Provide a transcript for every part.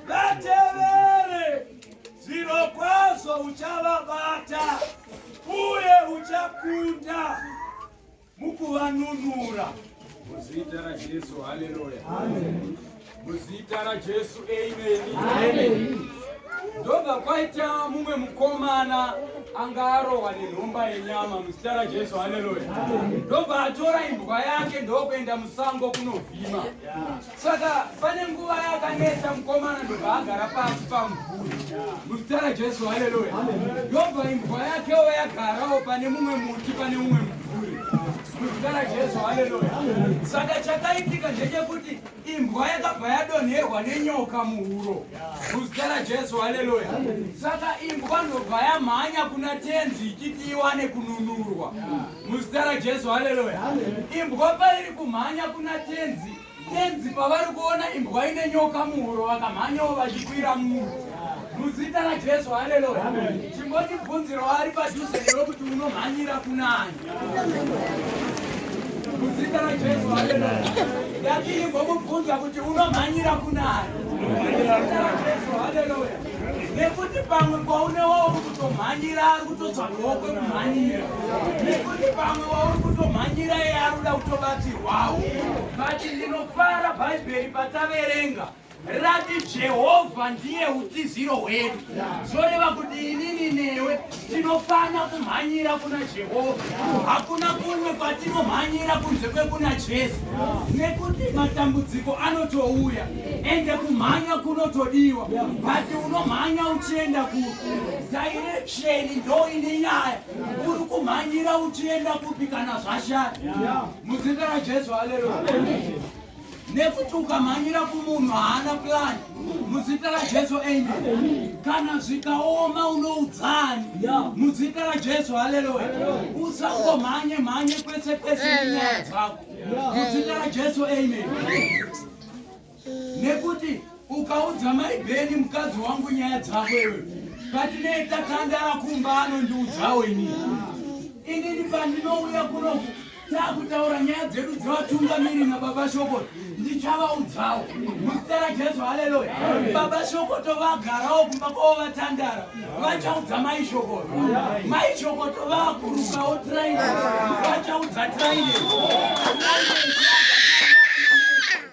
Vatevere zviro kwazvo uchavabata uye uchakunda mukuvanunura muzita raJesu. Haleluya, muzita raJesu, ameni. Ndobva kwaita mumwe mukomana anga arohwa nenhomba yenyama muzita raJesu, haleluya. Ndobva atora imbwa yake ndokuenda musango kunovhima. Saka pane nguva yakanetsa mukomana ndobva agara pasi pamvuri muzita raJesu, haleluya. Yobva imbwa yakewo yagarawo pane mumwe muti, pane mumwe mvuri muzita raJesu, haleluya. Saka chakaitika ndechekuti imbwa yakabva yadonherwa nenyoka muhuro muzita raJesu, haleluya. Saka imbwa ndobva yamhanya kuna tenzi ichiti iwane kununurwa. Muzita raJesu, haleluya. Imbwa pairi kumhanya kuna tenzi, tenzi pavari kuona imbwa ine nyoka muhuro vakamhanyawo vachikwira mumuro. Muzita raJesu, haleluya. Chimboti bvunziro ari padhuze nero kuti unomhanyira kunani. Muzita raJesu, haleluya. Ndati imbwa kubvunza kuti unomhanyira kunani. Muzita raJesu, haleluya. nekuti pamwe kwaune wauri kutomhanyira ari kutotsvagawo kwekumhanyira nekuti pamwe wauri kutomhanyira iye ari kuda kutobatsirwawo kati ndinofara bhaibheri pataverenga rati jehovha ndiye utiziro hwedu zvoreva kuti inini newe Tinofanira kumhanyira kuna Jehovha. Hakuna kumwe kwatinomhanyira kunze kwekuna Jesu, nekuti matambudziko anotouya ende kumhanya kunotodiwa, bati unomhanya uchienda kupi? Direksheni ndo ine nyaya. Uri kumhanyira uchienda kupi kana zvashaya? Muzita raJesu, haleluya. nekuti ukamhanyira kumunhu haana plan muzita rajesu amen kana zvikaoma unoudzani muzita rajesu haleluya usangomhanye mhanye kwese kwese nenyaya dzako muzita rajesu amen nekuti Ukaudza mai Beni mukadzi wangu nyaya dzako iwe patinei tatandara kumba anondiudzawo ini inini pandinouya kuno takutaura nyaya dzedu dzevatungamiri nababa shoko ndichavaudzawo muzita rajesu haleluya baba shoko tovagarawo kumba kwavo vatandara vachaudza mai shoko mai shoko tovakurukawo traine vachaudza traine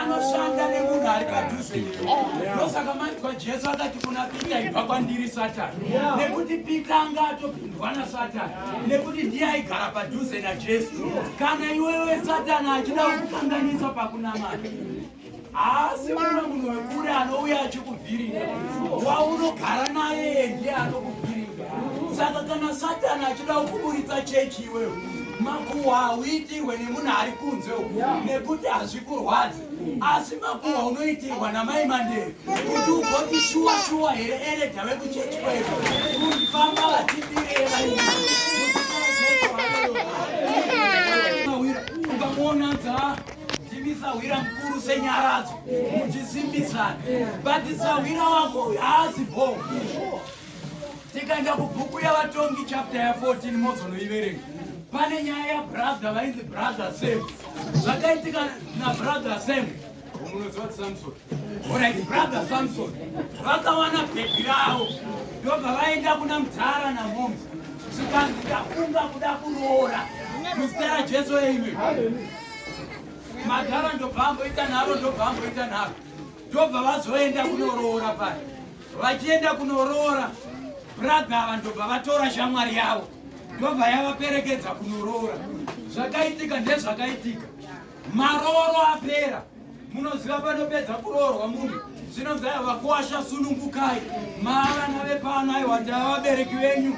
anoshanda nemunhu ari padhuze ndosaka manzwa jesu akati kuna pita ibva kwandiri satani nekuti pita anga atopindwa nasatani nekuti ndiye aigara padhuze najesu kana iwewe satani achida kukukanganisa pakunamata asi mumwe munhu wekure anouya achikuvhiringa waunogara naye ndiye anokuvhiringa saka kana satani achida kukuburitsa chechi iweyo makuhwa hauitirwe nemunhu ari kunze nekuti hazvikurwadzi asi makuhwa unoitirwa namai mandere kuti ugoti shuwa shuwa here eredha vekuchechi kwedu kufamba vachidireva ukamuona dza Jimisa hwira mukuru senyaradzo muchisimbisana batisa hwira wako haazi bho tikaenda kubhuku yavatongi chapta ya14 mozonoiverenga pane nyaya yabrother vainzi brother sam zvakaitika nabrother sam unoziva tisamsoni Alright, brother Samson vakawana bhebhi ravo ndobva vaenda kuna mudhara namhomi zvikanzi ndafunga kuda kuroora muzita rajesu eime madhara ndobva amboita nharo ndobva amboita nharo ndobva vazoenda kunoroora pari vachienda kunoroora bradha ava ndobva vatora shamwari yavo ndobva yavaperekedza kunoroora zvakaitika ndezvakaitika Marooro apera munoziva panopedza kuroorwa munhu zvinonzi aya vakuwasha sunungukai maavana vepano aiwa ndava vabereki venyu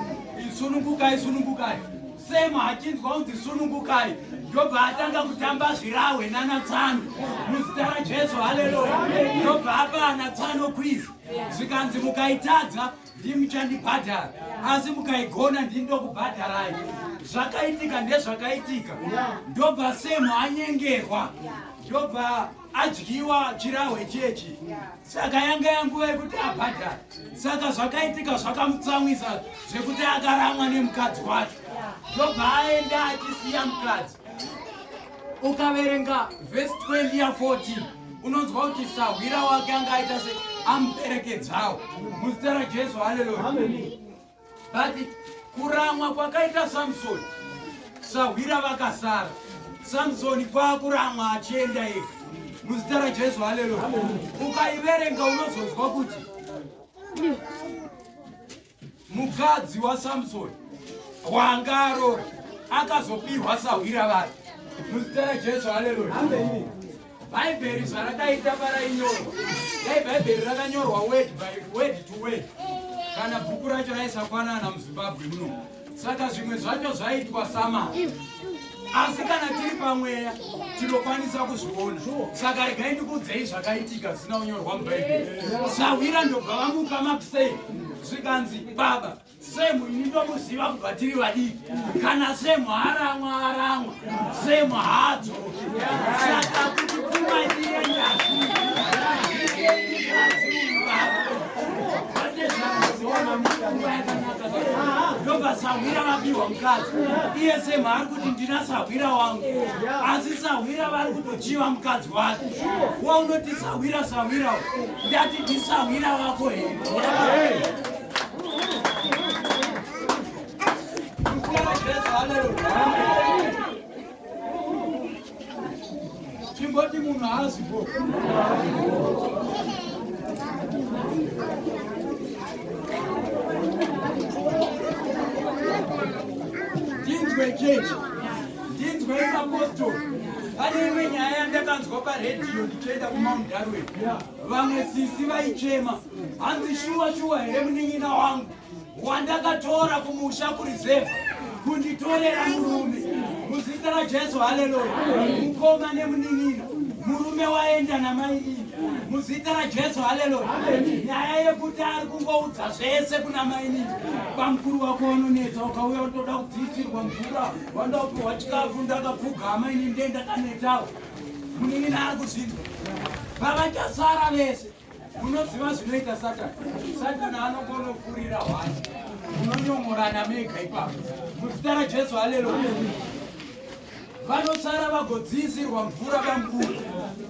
sunungukai sunungukai sema hachinzwa kunzi sunungukai ndobva atanga kutamba zvirahwe nanatsano muzita rajesu haleluya ndobva apa anatsano kwizi zvikanzi mukaitadza ndimi muchandibhadhara asi mukaigona ndini ndokubhadharai zvakaitika ndezvakaitika ndobva semu anyengerwa ndobva adyiwa chirahwe chechi saka yanga yanguva yekuti abhadhara saka zvakaitika zvakamutsamwisa zvekuti akaramwa nemukadzi wacho ndobva aenda achisiya mukadzi ukaverenga vhesi 20 ya 14 unonzwa kuti sahwira wake anga aita se amuperekedzawo muzita rajesu haleluya but kuramwa kwakaita samsoni sahwira vakasara samsoni kwakuramwa achienda ega muzita rajesu haleluya ukaiverenga unozonzwa kuti Mukadzi waSamsoni wanga arora akazopihwa sahwira vake muzita raJesu. Haleluya, ameni. Bhaibheri zvarakaita parainyorwa, dai Bhaibheri rakanyorwa word by word to word, kana bhuku racho raisafanana muZimbabwe muno. saka zvimwe zvacho zvaitwa sama asi kana tiri pamweya tinokwanisa kuzviona saka regai ndikuudzei zvakaitika zvisina kunyorwa mubhaibheri sahwira ndobva vamuka makusei zvikanzi baba semu ini ndomuziva kubva tiri vadiki kana semu haramwa haramwa semu hadzo ndobva sahwira vapiwa mukadzi iye semhaari kuti ndina sahwira wangu asi sahwira vari kutochiva mukadzi wake wa unoti sahwira sahwira ndati ndisahwira wako here chimboti munhu haazi bo ndinzwe chechi ndinzwe imapostori pane imwe nyaya yandakanzwa paredhiyo ndichienda kumount darwin vamwe sisi vaichema hanzi shuwa shuwa here munin'ina wangu wandakatora kumusha kurizevha kunditorera murume muzita rajesu haleluya mukoma nemunin'ina murume waenda namai iyi muzita rajesu haleluya nyaya yekuti ari kungoudza zvese kuna mainini bamukuru wako wanonetsa ukauya utoda kudziisirwa mvura wanda kupiwa chikafu ndakapfugama ini ndendakanetawo munin'ina ari kuzvinzwa vavachasara vese Munoziva zvinoita Satani? Satani anongonofurira hwani, munonyomorana mega ipapo. Muzita raJesu, haleluya. Vanosara vagodziisirwa mvura bamkuru,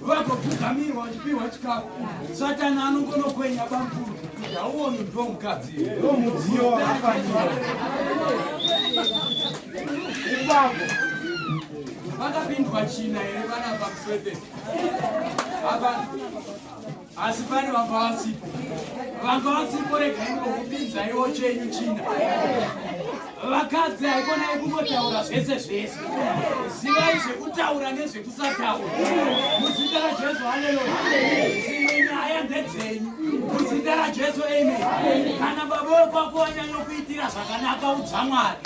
vagopfugamirwa vachipihwa chikafu. Satani anongonokwenya bamkuru kuti hauoni ndo mukadzi ndo mudziyo wakafanira ipapo. Vakapindwa china here vana pamuswedesi asi pane vanga vasipo vanga vasipo regai ngokupinzaiwo chenyu china vakadzi haikonai kungotaura zvese zvese zivai zvekutaura nezvekusataura muzita rajesu haleluya dzimwe nyaya ndedzenyu muzita rajesu amen kana baba wekwako wanyanyokuitira zvakanaka udza mwari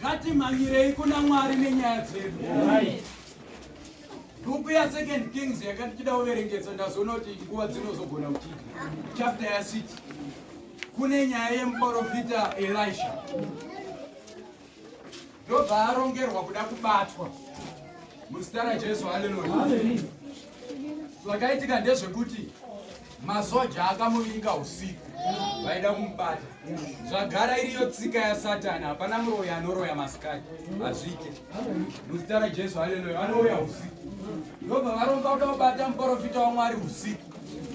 ngatimhanyirei kuna mwari nenyaya dzedu bhuku yasecond kings yakati tida kuverengesa ndazoona kuti nguva dzinozogona kuchita chapta yasiti kune nyaya yemuprofita elisha ndobva arongerwa kuda kubatwa muzita rajesu haleluya zvakaitika ndezvekuti masoja akamuvinga usiku vaida kumubata zvagara iriyo tsika yasatani hapana muroyi anoroya masikati hazvike muzita rajesu haleluya vanouya usiku ndobva varomba kuda kubata muporofita wamwari usiku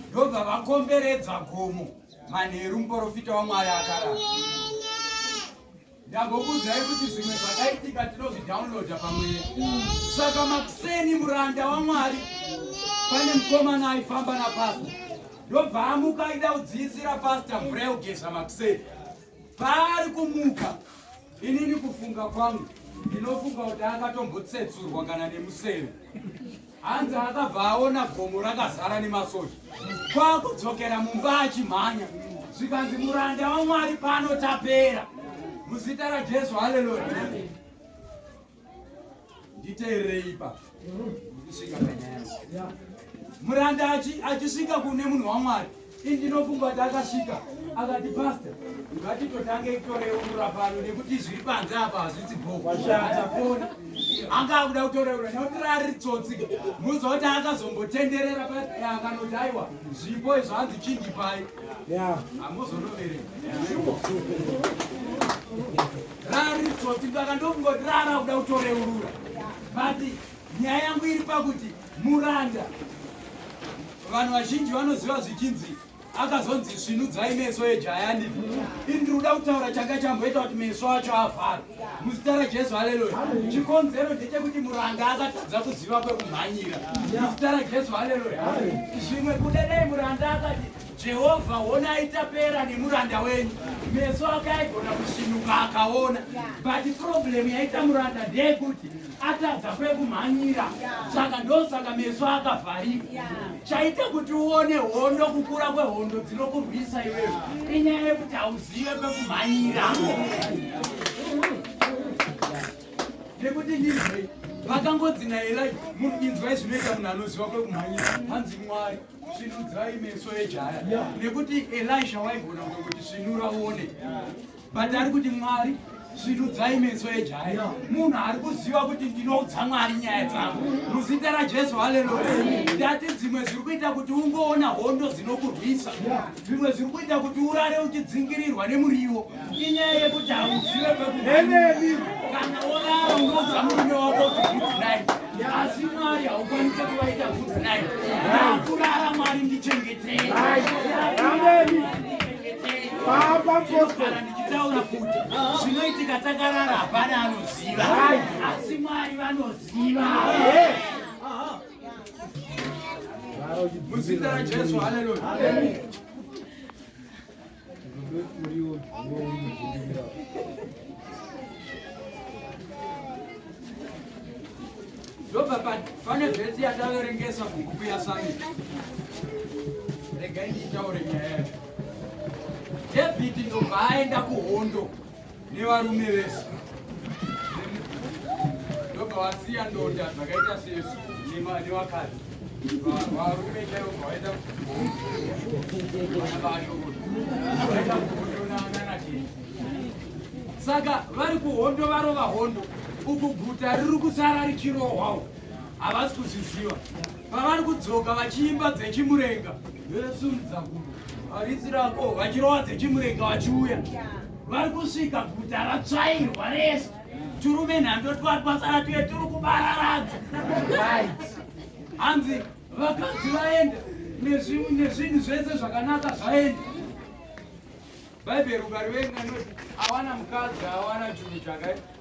ndobva vakomberedza gomo manheru muporofita wamwari akarara ndambokuudzai kuti zvimwe zvakaitika tinozvidownloada pamwe saka makuseni muranda wamwari pane mukomana aifamba napasta ndobva amuka aida kudziisira pasta mvura yekugeza makuseni paari kumuka inini kufunga kwangu ndinofunga kuti akatombotsetsurwa kana nemuseve hanzi akabva aona gomo rakazara nemasoja kwakudzokera mumba achimhanya zvikanzi muranda wamwari pano tapera muzita rajesu haleluya nditeererei ipa ndisvika panyaya muranda achisvika kune munhu wamwari Indinofunga kuti akasvika akati pastor ngatitotange kutoreurura pano nekuti zviri panze apa hazvisi bhoataponi anga akuda kutoreurura nekuti rari tsotsi muza kuti akazombotenderera payakanoti aiwa zvipo izvo hanzi chinji pai hamuzonoverei rari tsotsi ndakandofunga kuti rara kuda kutoreurura but nyaya yangu iri pakuti Muranda vanhu vazhinji vanoziva zvichinzi akazonzi svinudzai meso ejaya ndii ini ndiri kuda kutaura changa chamboita kuti meso acho avhara muzita rajesu haleluya chikonzero ndechekuti muranga akatadza kuziva kwekumhanyira muzita rajesu haleluya zvimwe kudadai muranda akati Jehovha, honai tapera nemuranda wenyu. Meso ake aigona kusvinuka akaona, but problem yaita muranda ndeyekuti atadza kwekumhanyira, saka ndosaka meso akavharika. Chaita kuti uone hondo, kukura kwehondo dzinokurwisa iwewe, inyaya yekuti hauzive kwekumhanyira nekuti ndizvei vakangodzi naelai munhu inzwai zvinoita munhu anoziva kwekumhanyira hanzi mwari Sinudzai meso ejaya nekuti Elisha waigona kuti sinura uone but ari kuti Mwari sinudzai meso ejaya munhu ari kuziva kuti ndinoudza Mwari nyaya dzangu muzita raJesu haleluya ndati dzimwe dziri kuita kuti ungoona hondo dzinokurwisa zvimwe zviri kuita kuti urare uchidzingirirwa nemuriwo inyaya yekuti hauzive pekueneni kana worara unouza murume wako kuti good night asi mwari haukwanise kuvaita good night nakurara mwari ndichengetei paapapostara ndichitaura kuti zvinoitika takarara hapana anoziva asi mwari vanoziva Muzita raJesu, haleluya. Ndobva pane vhesi yataverengesa kubhuku yasami. Regai ndichitaure nyaya yacho. Dhavhidhi ndobva aenda kuhondo. nevarume vese ndobva vasiya ndonda dzakaita sesu nevakadzi varume chaivo vaenda kuvaenda kuhondonananachii saka vari kuhondo varova hondo uku guta riri kusara richirohwawo havasi kuzviziva pavari kudzoka vachiimba dzechimurenga vesimudza gumo haridzi rako vachirova dzechimurenga vachiuya vari kusvika guta ratsvairwa rese turume nhando twatwasara tuye turi kubararadza hanzi vakadzi vaenda nezvinhu zvese zvakanaka zvaenda bhaibheri ukarivenga noti awana mukadzi awana chunhu chakaita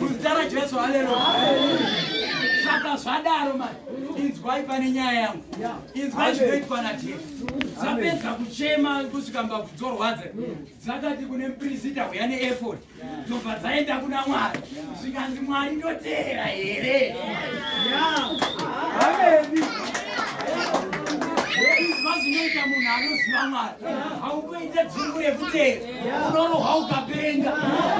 Muzita raJesu, haleluya saka zvadaro mani inzwai pane nyaya yangu inzwai zvinoitwa najesu dzapedza kuchema kusvika mbabvu dzorwadza dzakati kune muprisita uya neefod dzobva dzaenda kuna mwari zvikanzi mwari ndoteera here izwa zvinoita munhu anoziva mwari haukuite dzungu rekuteera unorohwa ukapenga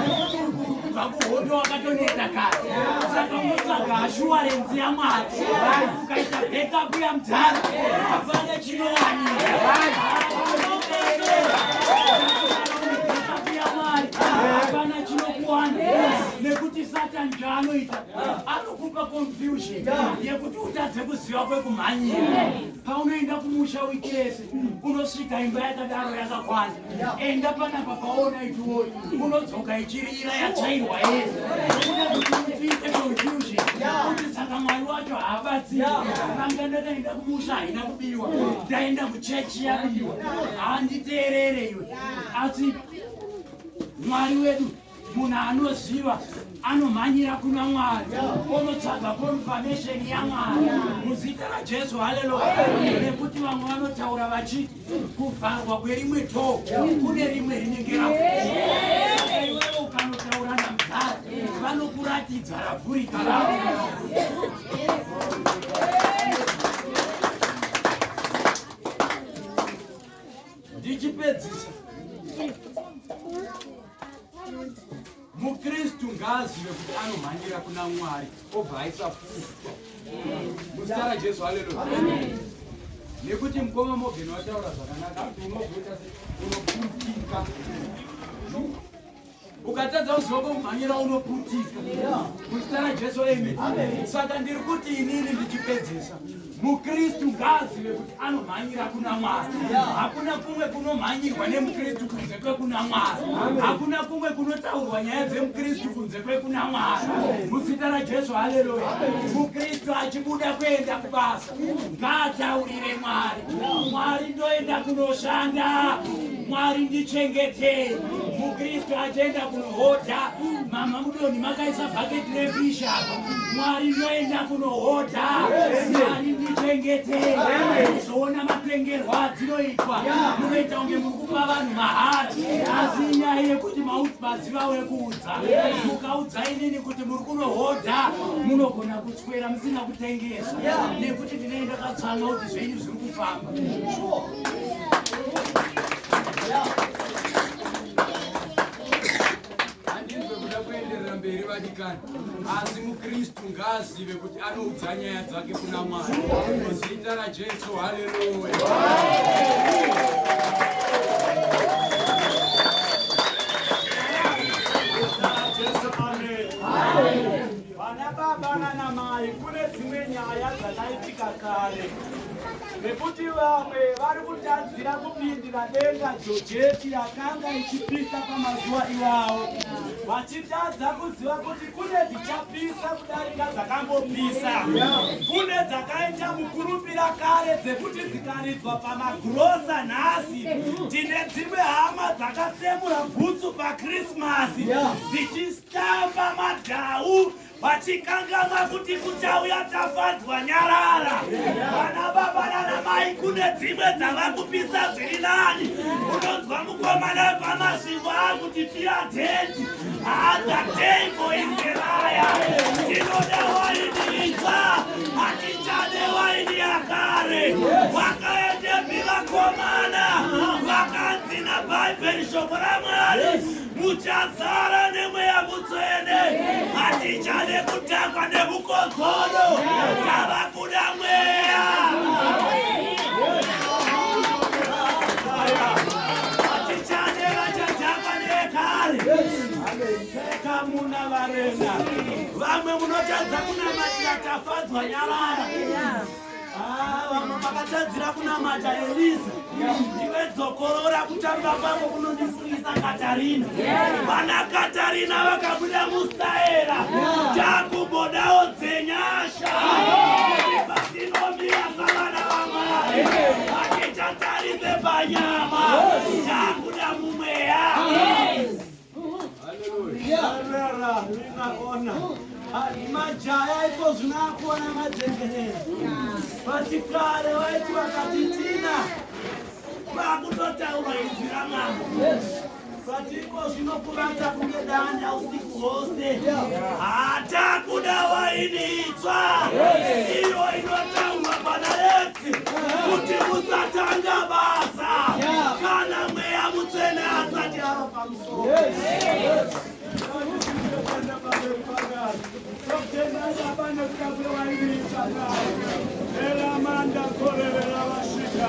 nekuti kubva kuhondo wakatoneta kare saka unotsvaga ashuwarenzi yamwari ukaita backup yamdhara apana chinowanika yekuti utadze kuziva kwekumhanyira paunoenda kumusha wikese unosvika imba yakadaro yakakwana enda panapa paona itiwoyi unodzoka ichirira yatsvairwa yese kuda kuti uite confusion kuti saka mwari wacho haabatsiri vanga ndakaenda kumusha haina kubiwa ndaenda kuchechi yabiwa handiteerere iwe asi mwari wedu munhu anoziva anomhanyira kuna mwari onotsvaga confirmation yamwari muzita rajesu haleluya nekuti vamwe vanotaura vachiti kuvharwa kwerimwe to kune rimwe rinenge raaiwewe ukanotaura namzari vanokuratidza ravhurika ravo ndichipedzisa mukristu ngaazive kuti anomhanyira kuna mwari obva aisa futa muzita rajesu haleluya nekuti mukoma mogeni wataura zvakanaka kuti unogoita unoputika ukatadza kuziva kumhanyira unoputika muzita rajesu amen saka ndiri kuti inini ndichipedzisa mukristu ngaazive kuti anomhanyira kuna mwari hakuna kumwe kunomhanyirwa nemukristu kunze kwekuna mwari hakuna kumwe kunotaurwa nyaya dzemukristu kunze kwekuna mwari muzita rajesu haleluya mukristu achibuda kuenda kubasa ngaataurire mwari mwari ndoenda kunoshanda mwari ndichengetei mukristu achienda kunohodha mama mudoni makaisa bhaketi refish apa Mwari ndoenda kunohodha Mwari ndichengete zvoona matengerwa adzinoitwa munoita kunge muri kupa vanhu mahara asi inyaya yekuti maziva wekuudza mukaudza inini kuti muri kunohodha munogona kuswera musina kutengesa nekuti ndinenge ndakatsvanga kuti zvenyu zviri kufamba handinzwe kuda kuenderera mberi vadikani asi mukristu ngaazive kuti anoudza nyaya dzake kuna mwari muzita rajesu haleluya vana baba nanamai kune dzimwe nyaya dzakaitika kare nekuti vamwe vari kutadzira kupindira denga jojeti yakanga ichipisa pamazuva iwawo vachitadza kuziva kuti kune dzichapisa kudarika dzakambopisa kune dzakaita mukurupira kare dzekuti dzikaridzwa pamagrosa nhasi tine dzimwe hama dzakatsemura bhutsu pakrismasi dzichitamba madhau vachikanganwa kuti kuchauya tafadzwa nyarara vana baba nanamai kune dzimwe dzava kupisa zviri nani unonzwa mukomana wepamasvingo akuti tiya dheti haadha teiko inzeraya tinoda waini itsva hatichade waini yakare vakaendepi vakomana vakanzi nabhaibheri shoko ramwari muchazara nemweya mutsvene hatichade kutangwa nemukodzoro tava kuda mweya hatichade vachadzakwa nekare pfeka muna varenda vamwe munotadza kunamatira tafadzwa nyarara vamwe makatadzira kunamata eliza iwe dzokorora kutamba kwako kunondisungisa katarina vana katarina vakabuda mustaera takumbodawo dzenyasha vatinomira savana vamwari vatichatarise panyama takuda mumweya majaya iko zvinoakona madzengerera vati kare vaiti vakatitina vakutotaura inzwi ramambo vati iko zvinokuvata kunge danda usiku hwose hatakuda waini itsva iyo inotaurwa pana yetu kuti musatanga basa kana mweya mutsvene asati ava pamusoro Elamanda korevera vasvika